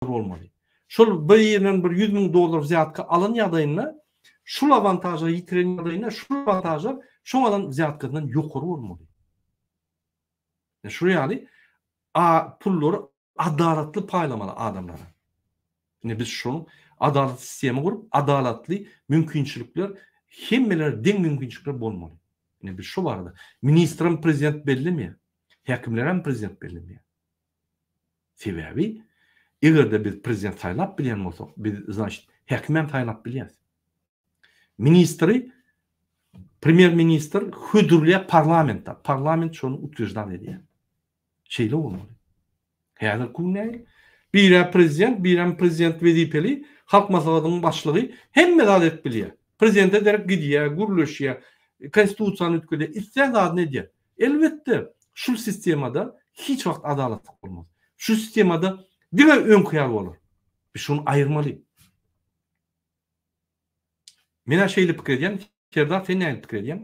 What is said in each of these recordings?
bolmaly. Şol bir ýerinden bir ýüz müň dollar wzýatka alan ýagdaýynda, şul awantažlary ýitiren ýagdaýynda, şul awantažlar şoň alan wzýatkasyndan ýokary bolmaly. Ýa şu ýaly a pullary adalatly paýlamaly adamlara. Indi biz şoň adalatly sistema gurup, adalatly mümkinçilikler hemmelere deň mümkinçilikler bolmaly. Indi biz şu barada ministrem prezident bellemeýär. Häkimlerem prezident bellemeýär. Sebäbi egerde biz prezident saýlap bilýän bolsak, biz znaçt häkimem saýlap bilýäs. Ministri premýer ministr hödürleýär parlamentde, parlament şony utwyeždan edýär. Şeýle bolmaly. Häzirki gün nähili? Birä prezident, birem prezident wezipeli, halk maslahatynyň başlygy hemme zat edip bilýär. Prezidente derek gidýär, gürleşýär, konstitusiýany üýtgedýär, islän zadyny edýär. Elbetde, şul sistemada hiç wagt adalatlyk bolmaz. Şu sistemada diňe öňki ýaly bolar. Biz şuny aýyrmaly. Men-ä şeýle pikir edýän. Serdar, sen näme pikir edýäň?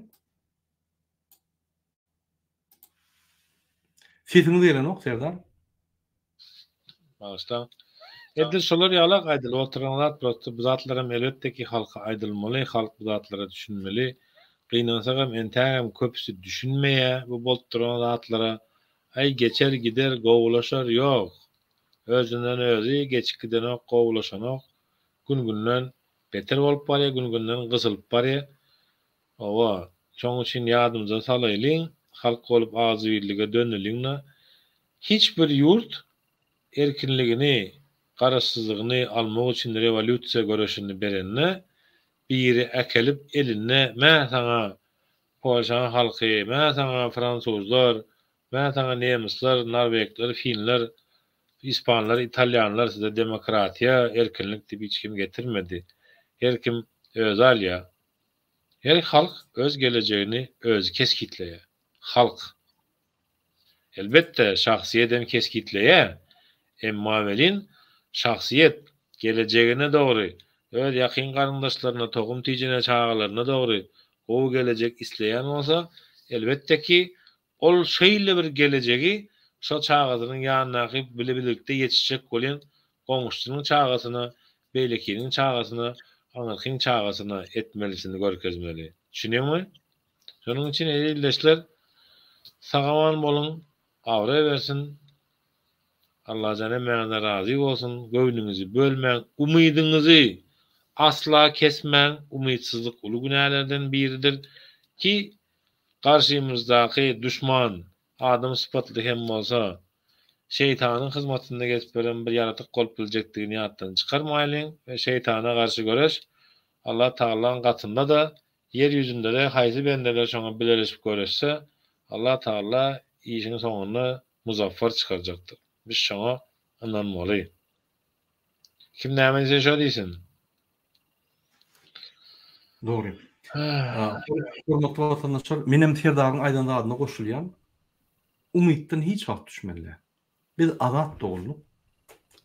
Sesiňiz gelenok, Serdar. Bagyşlaň. Edil şolar ýalak aýdylyp oturan zat prosta bu zatlaram elbetde ki halka aýdylmaly, halk bu zatlara düşünmeli. Gynansagam entägem köpüsi düşünmeýä bu bolup duran zatlara. Aý geçer gider gowulaşar ýok. Özünden özi geçip gidenok gowulaşanok. Gün günden beter bolup barýa gün günden gysylyp barýa. Hawa, şoň üçin ýadymyza salaýlyň, halk bolup agzybirlige döneliň-de, hiç bir ýurt erkinligini, garaşsyzlygyny almak üçin rewolýusiýa göreşini berende, biri äkelip elinde, Mä saňa, polşaň halky, mä saňa, fransuzlar, mä saňa, nemisler, norwegler, finler, ispanlar, italýanlar, size demokratiýa, erkinlik diýip hiç kim getirmedi. Her kim özi alýar. Her halk öz gelejegini özi kesgitleýär. Halk. Elbetde, şahsyýet hem kesgitleýär. Emma welin, şahsyýet, gelejegine dogry, öz ýakyn garyndaşlaryna, tohum-tijine, çagalaryna dogry gowy gelejek isleýän bolsa, elbetde ki, Ol şeýle bir gelejegi şo çagasynyň ýanyndaky bile-birlikde ýetişjek bolýan goňşusynyň çagasyna, beýlekiniň çagasyna, aňyrkyň çagasyna etmelisini görkezmeli. Düşündiňmi? Şonuň üçin eziz ildeşler, sagaman boluň, abraý bersin, Allajan hemmäňizden razy bolsun, göwnüňizi bölmäň, umydyňyzy asla kesmäň, umytsyzlyk uly günälerden biridir, ki Garşymyzdaky duşman, adam sypatly hem bolsa, Şeýtanyň hyzmatynda gezip ýören bir ýaratyk bolup biljekdigini ýatdan çykarmaýlyň we Şeýtana garşy göreş Allah Tagalaň gatynda-da, ýer ýüzünde-de haýsy bendeler şoňa bileleşip göreşse, Allah Tagala işiň soňunda muzaffar çykarjakdyr. Biz şoňa ynanmaly. Kim näme diýse şo diýsin. Dogry. Hormatly watandaşlar, men hem Serdaryň aýdan zadyna goşulýan. Umytdan hiç wagt düşmeli. Biz azat dogulduk.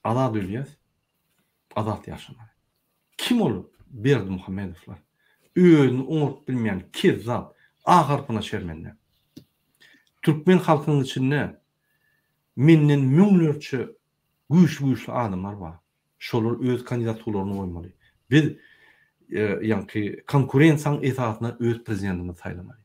Azat ölýäs. Azat ýaşamaly. Kim ol Berdi Muhammedowlar? Özüni oňaryp bilmeýän kezzap, A harpyna şermende. Türkmen halkynyň içinde menden müňlerçe güýçli-güýçli adamlar bar. Şolar öz kandidatularyny goýmaly. Biz ýaňky konkurensiýaň esasyna öz prezidentimizi saýlamaly.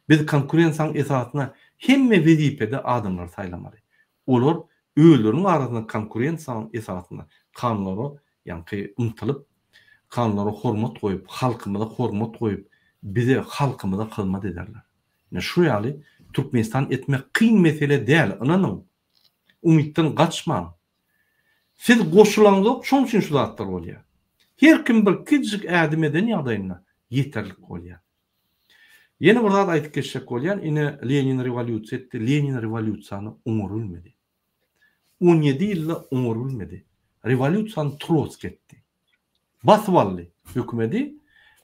Biz konkurensiýaň esasyna hemme wezipede adamlary saýlamaly. Olar özleriniň arasynda konkurensiýaň esasyna kanunlara ýaňky ymtylyp, kanunlara hormat goýup, halkymyza hormat goýup, bize, halkymyza hyzmat ederler. Ine şu ýaly Türkmenistan etmek kyn mesele däl, ynanyň. Umytdan gaçmaň. Siz goşulaňzok şoň üçin şu zatlar bolýar. Her kim bir kiçijik ädim eden ýagdaýynda ýeterlik bolýar. Ýene bir zat aýdyp geçjek bolýan ine Lenin rewolýusiýa etdi Lenin rewolýusiýany oňar bilmedi. On ýedi ýylda oňar bilmedi. Rewolýusiýany Trotski etdi. Basyp aldy hökümedi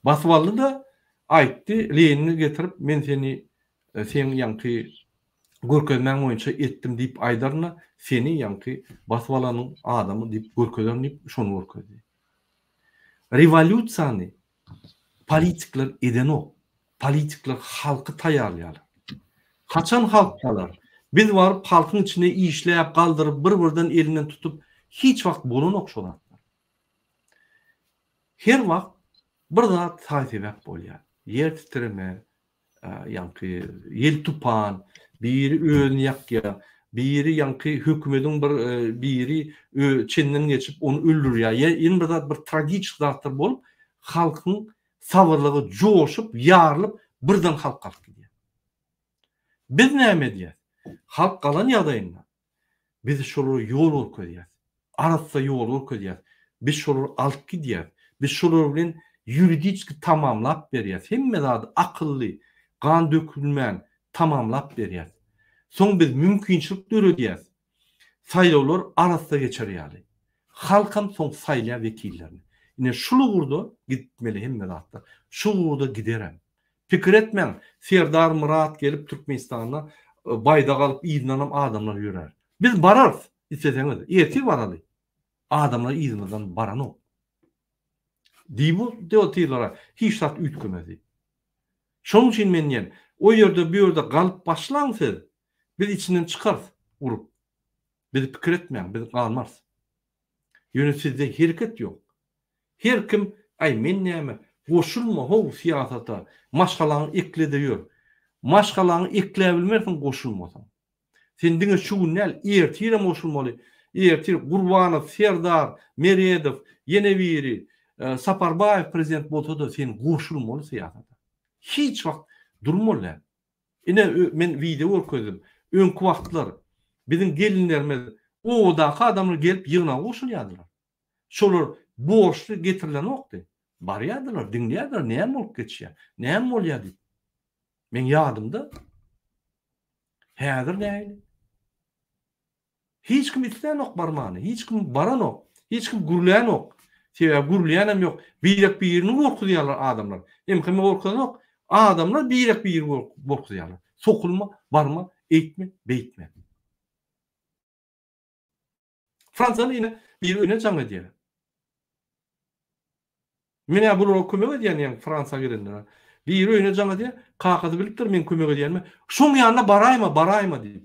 basyp aldy-da aýtdy Lenini getirip men seni seň ýaňky görkezmäň boýunça etdim diýip aýdaryn-da, seni ýaňky basyp alanyň adamy diýip görkezerin diýip şony görkezdi. Rewolýusiýany politikler edenok. Politikler halky taýýarlaýarlar. Haçan halk galar? Biz baryp halkyň içinde işläp, galdyryp, bir-birden elinden tutup hiç wagt bolanok şo zatlar. Her wagt bir zat saý-sebäp bolýar. Ýer titreme, ýaňky ýel-tupan, biri özüni ýakýar, biri ýaňky hökümediň bir biri çenden geçip ony öldürýär, ýa ýene bir zat bir tragiçik zatlar bolup, halkyň sabyrlygy joşup, ýarylyp, birden halk galyp gidýär. Biz näme edýäs? Halk galan ýagdaýynda, Biz şolara ýol görkezýäs. Arassa ýol görkezýäs. Biz şolary alyp gidýäs. Biz şolar bilen ýuridiski tamamlap berýäs. Hemme zady akylly, gan dökülmän tamamlap berýäs. Soň biz mümkinçilik döredýäs. Saýlawlar arassa geçer ýaly. Halkam soň saýlar wekillerini. Ine şul ugurda gitmeli hemme zatlar. Şu ugurda giderem. Pikir etmäň Serdar Myrat gelip Türkmenistanda baýdak alyp yzyndanam adamlar ýörär. Biz bararys isleseňiz ertir baraly adamlar yzymyzdan baranok. Diýip bu debotyrlara hiç zat üýtgemedi. Şonuň üçin men diýen o ýerde bu ýerde galyp başlaň siz biz içinden çykarys urup. Biz pikir etmäň biz galmarys. Ýöne sizde hereket ýok. Her kim aý men näme, goşulma how syýasata, maşgalaňy ekle-de ýör. Maşgalaňy ekläbilmersiň goşulmasaň. Sen diňe şu gün däl, ertirem goşulmaly. Ertir Gurbanow, Serdar, Meredow, ýene biri, Saparbaýew prezident bolsa-da sen goşulmaly syýasata. Hiç wagt durmaly däl. Ine men wideo görkezdim. Öňki wagtlar biziň gelinlerimiz obadaky adamlar gelip ýygnaga goşulýardylar. Şolar borçly getirilenokdy. Barýardylar, diňleýärdiler näme bolup geçýär, näme bolýar diýip. Meň ýadymda. Häzir nähili? Hiç kim islänok barmany, hiç kim baranok, hiç kim gürlänok. Sebäbi gürleýänem ýok. Birek-birini gorkuzýarlar adamlar. MHM gorkuzanok. Adamlar birek-biri gorkuzýarlar. Sokulma, barma, eýtme, beýtme. Fransiýaly ýene biri ýöne jaň edýär. Menä bulara kömek edýän ýaň Fransiýa gelenlere. Biri ýöne jaň edýär. Kakasy bilipdir men kömek edýänimi. Şoň ýanyna baraýma, baraýma diýip.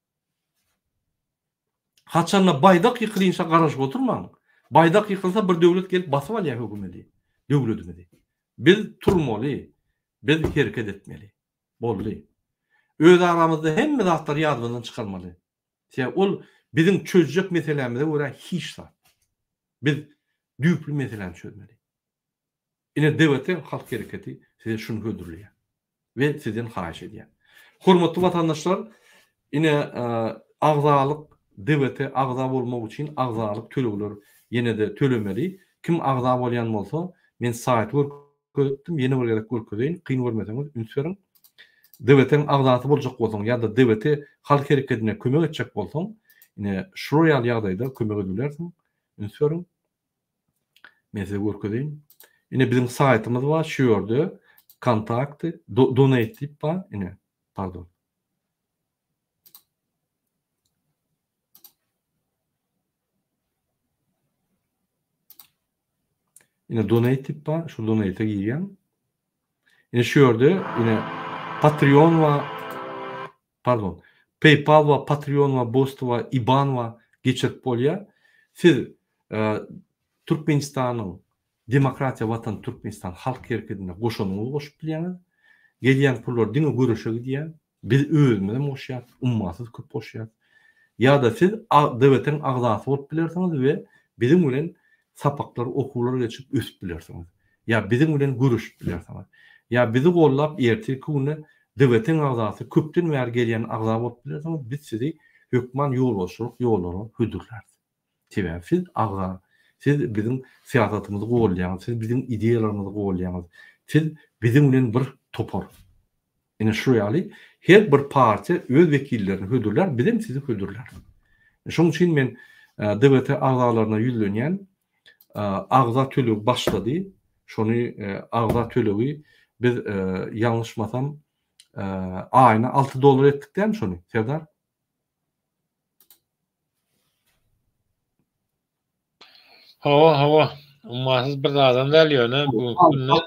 Haçanda baýdak ýykylynça garaşyp oturmaň. Baýdak ýykylsa bir döwlet gelip basyp alýar hökümedi, döwledimizi. Biz turmaly, biz hereket etmeli. Boldy. Öz aramyzda hemme zatlary ýadymyzdan çykarmaly. Sebäbi ol biziň çözjek meselämize görä hiç zat. Biz düýpli meseläni çözmeli. Ine DWT halk hereketi size şuny hödürleýär we sizden haýyş edýär. Hormatly watandaşlar ine agzalyk DWT agza bolmak üçin agzalyk tölegler ýenede tölemeli. Kim agza bolýan bolsa men saýty görkezipdim ýene bir gezek görkezeýin kyn görmeseňiz üns beriň. DWT-niň agzasy boljak bolsaň ýa-da DWT halk hereketine kömek etjek bolsaň ine şular ýaly ýagdaýda kömek edip bilersiň üns beriň. Men size görkezeýin. Ine biziň saýtymyz bar, şu ýerde kontakty, donate diýip bar, ine, pardon. Ine donate diýip bar, şu donate-e girýän. Ine şu ýerde ine Patreon we Pardon. Paypal wa Patreon wa Boosty wa Iban wa geçirip bolýa. Siz Türkmenistanyň Demokratiýa Watan Türkmenistan Halk Hereketine goşanyňyzy goşup bilýäňiz. Gelýän pullar diňe göreşe gidýä. Biz özümizem goşýas. Ummasyz köp goşýas. Ýa-da siz DWT-iň agzasy bolup bilersiňiz we biziň bilen sapaklar, okuwlar geçip ösüp bilersiňiz. Ýa biziň bilen görüşip bilersiňiz. Ýa bizi gollap ertirki günde DGT-iň agzasy, köpden bäri gelýän agza bolup bilersiňiz, biz sizi hökman ýolbaşçylyk ýollara hödürläris. Sebäbi siz agza, siz biziň syýasatymyzy golýaňyz, siz biziň ideýalarymyzy golýaňyz, siz biziň bilen bir topar. Ine şu ýaly her bir partiýa öz wekillerini hödürlär, bizem sizi hödürläris. Şonuň üçin men DBT agzalaryna ýüzlenýän, agza tölegi başlady, şony agza tölegi biz ýalňyşmasam aýyna alty dollar etdik dämi şony Serdar? Hawa, hawa. Ummasyz bir zadam däl ýöne bu günde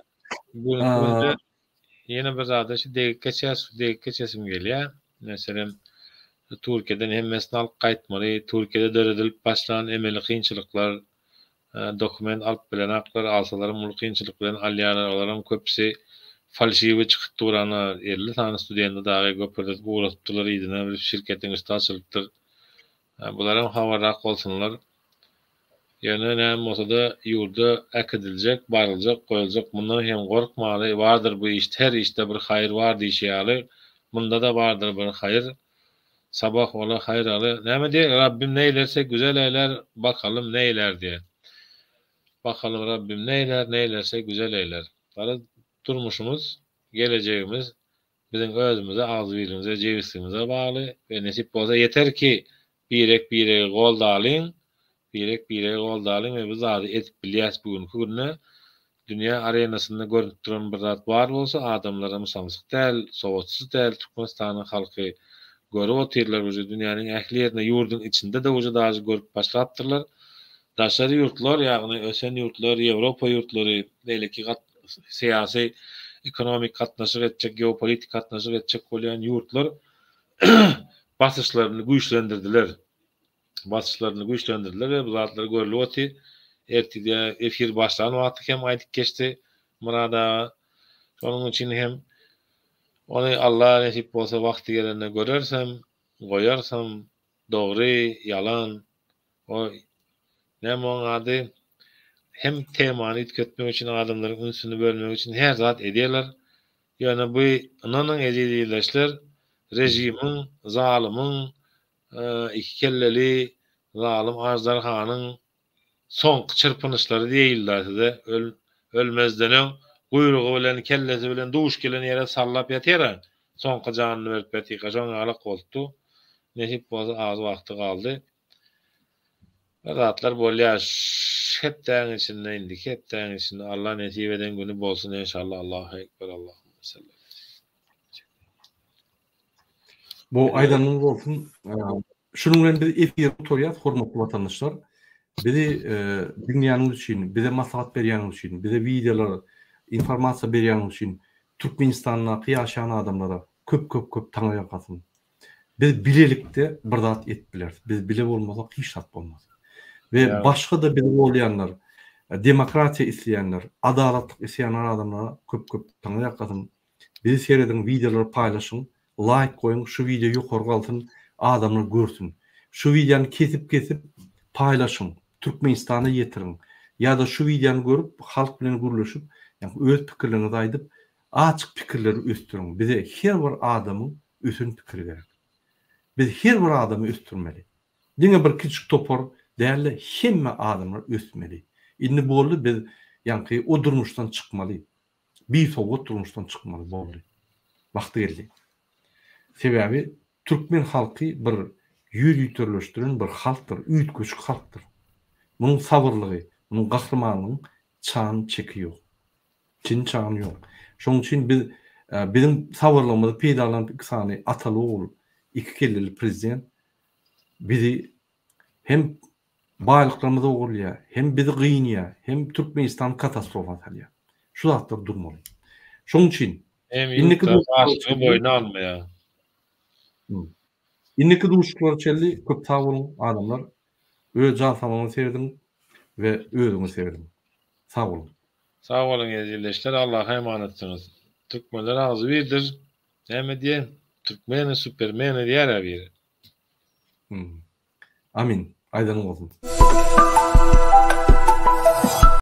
bu günde ýene bir zada şu degip geçýär, şu degip geçesim gelýär. Meselem, Türkiýeden hemmesini alyp gaýtmaly, Türkiýede döredilip başlan emeli kynçylyklar, dokument alyp bilenaklar, alsalaram uly kynçylyk bilen alýarlar, olaram köpüsi falşiwi çykyp dur ana, elli sany studenti dagy göperdip ugradypdyrlar yzyna, bilip şirketiň üsti açylypdyr. Hä bularam habarrak bolsunlar. Ýöne näme bolsada ýurda äkidiljek, baryljak, goýuljak mundan hem gorkmaly, bardyr bu işde her işde bir haýyr bar diýşi ýaly, mundada bardyr bir haýyr. Sabah ola haýyr aly. Näme diýeýin Rabbim neýlerse güzel eýler, bakalym neýlär diýe. Bakalym Rabbim neýlär, neýlerse güzel eýler. Garaz durmuşymyz, gelejegimiz biziň özümize, agzybirligimize, jebisligimize bagly we nesip bolsa ýeter ki, birek-biregi goldalyň, birek-biregi goldalyň we bu zady edip bilýäs bu günki günde dünýä arenasynda görnüp duran bir zat bar bolsa adamlara mysamsyk däl, sowatsyz däl Türkmenistanyň halky görüp otyrlar uje dünýäniň ähli ýerinde ýurdyň içinde-de uje dažy görüp başlapdyrlar Daşary ýurtlar, ýagny ösen ýurtlar, Ýewropa ýurtlary, beýleki syýasy, ekonomik gatnaşyk etjek, geopolitik gatnaşyk etjek bolýan ýurtlar basyşlaryny güýçlendirdiler. Basyşlaryny güýçlendirdiler we bu zatlar görlüp oty. Ertirde efir başlan wagty hem aýdyp geçdi Murad aga. Şonuň üçin hem ony Alla nesip bolsa wagty gelende görersem, goýarsam, dogry, ýalan, O näme oň ady hem temany üýtgetmek üçin adamlaryň ünsüni bölmek üçin her zat edýärler. Ýöne bu ynanyň eziz ildeşler režimiň zalymyň iki kelleli zalym aždarhanyň soňky çyrpynyşlary diýilda size ölmezden öň guýrugy bilen kellesi bilen duş gelen ýere sallap ýatyra soňky janyny berip ýatyka şoň ýalyk bolupdy nesip bolsa az wagty galdy. Bir zatlar bolýar ş hepdäň içinde indiki hepdäň içinde Allah nesip eden güni bolsun enşalla Allahu ekber Allahumma salli ala Bu aýdanyňyz bolsun. Şunuň bilen biz efiri gutarýas hormatly watandaşlar. Bizi diňleýäniňiz üçin, bize maslahat berýäniňiz üçin, bize wideolar, informasiýa berýäniňiz üçin Türkmenistandaky ýaşaýan adamlara köp köp köp taňyrýalkasyn. Biz bilelikde bir zat edip bileris. Biz bile bolmasak hiç zat bolmaz. We başga-da bizi golýanlar, demokratiýa isleýänler, adalatlyk isleýän adamlara köp-köp taňa ýakasyn. Bizi serediň, wideolary paýlaşyň, laýk goýuň, şu wideo ýokary galsyn, adamlar görsün. Şu wideony kesip-kesip paýlaşyň, Türkmenistana ýetiriň. Ýa-da şu wideony görüp, halk bilen gürleşip, öz pikirleriňizi aýdyp, Açyk pikirleri ösdüriň. Bize her bir adamyň ösen pikiri gerek. Biz her bir adamy ösdürmeli. Diňe bir kiçik topar dälde hemme adamlar ösmeli. Indi boldy biz ýaňky o durmuşdan çykmaly. Bisowat durmuşdan çykmaly boldy. Wagty geldi. Sebäbi türkmen halky bir ýüz ýüterleşdiren bir halkdyr, üýtgeşik halkdyr. Munuň sabyrlygy, munuň gahrymanlygyň Çagyň çeki ýok. Çyn çagyň ýok. Şoň üçin biz biziň sabyrlygymyzy peýdalanyp iki sany ataly ogul iki kelleli prezident bizi hem baýlyklarymyzy ogurlaýar hem bizi gynýar hem Türkmenistan katastrofa salýar. Şu zatlar durmaly. Şoň üçin Hem indiki ýurtlar başlygy boýna almaýar. Indiki duşuşyklara çenli köp sag boluň adamlar. Öz jan saglygyňyzy segrediň we özüňizi segrediň. Sag boluň. Sag boluň eziz ildeşler Allaha emanetdiňiz. Türkmenler agzybirdir. Näme diýen? Türkmeni supermeni diýärä biri. Amin. Aýdanyň bolsun.